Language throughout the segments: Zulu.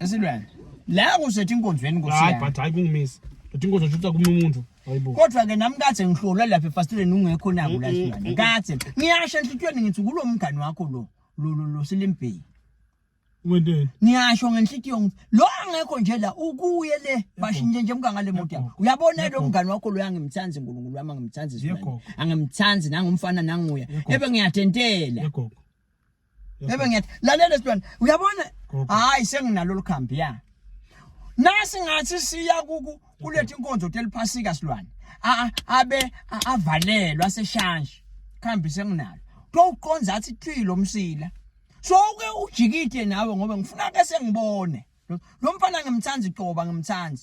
Esilwane. La kusethi inkonzweni nkosi hayi yami. but hayi kungimisi but inkozo shutha kumunye umuntu hayibo Kodwa ke nami kathe ngihlolwa lapha efastileni ungekho naku la silwane. Kathe ngiyasho enhlitiyweni ngithi kulo mngani wakho lo lo lo, lo silimbheki. wenteni Ngiyasho ngenhlitiyo ngithi lo angekho nje la ukuye le bashintshe nje mka ngale moto yakho. Uyabona lo mngani wakho lo angimthandi uNkulunkulu wami angimthandi Yebo. silwane. Angimthandi nangumfana nanguya. Yebo. Ebe ngiyatentela. yegogo Bebe ngiyathi lalela sibona uyabona hayi senginalo likhambi ya nasi ngathi siya kuku kulethe inkonzo teliphasika silwane abe avalelwa seshanshi khambi senginalo kowuqonza athi thwi lo msila so ke ujikide nawe ngoba ngifuna ke sengibone lo mfana ngimthanda icoba ngimthanda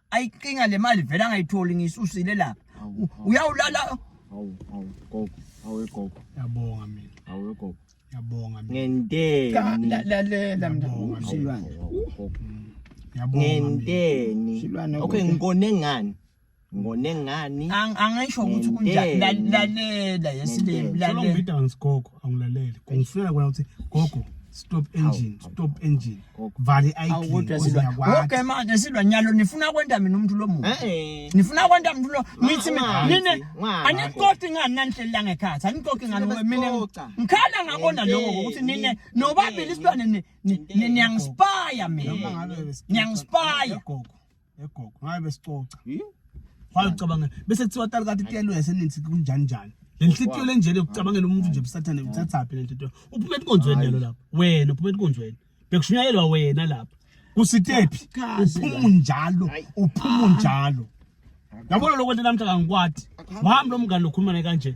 ayiqinga le mali vele angayitholi ngiyisusile lapha uyawulala awu awu gogo awu gogo yabonga mina awu gogo yabonga mina ngenteni lalela mina silwane ngenteni okay ngikone ngani ngone ngani angisho ukuthi kunjani lalela yesilimi lalela angilaleli kungifunela kona ukuthi gogo stop engine stop engine vale iconke manje silwa nyalo nifuna kwenta mina umuntu lo muntu eh. nifuna kwenta muntu lo nithi nine anikoki ngani nanihlelela ngekhathi anikoki ngani mina ngikhala ngakona lokho ukuthi nine nobabili isilwane niyangispaya mina niyangispaya egogo ngabe besicoca waye ucabanga bese kuthiwa tali kati tiyalo yasenithi kunjani njani lenhlitiyo lenjele ukucabangela umuntu nje busathane uthathaphi lenhlitiyo uphuma enkonzweni yalo lapha wena uphuma enkonzweni bekushunyayelwa wena lapha kusitephi uphuma unjalo uphuma unjalo yabona lokho nto namhla kangikwati wami lo mngane lokhuluma naye kanje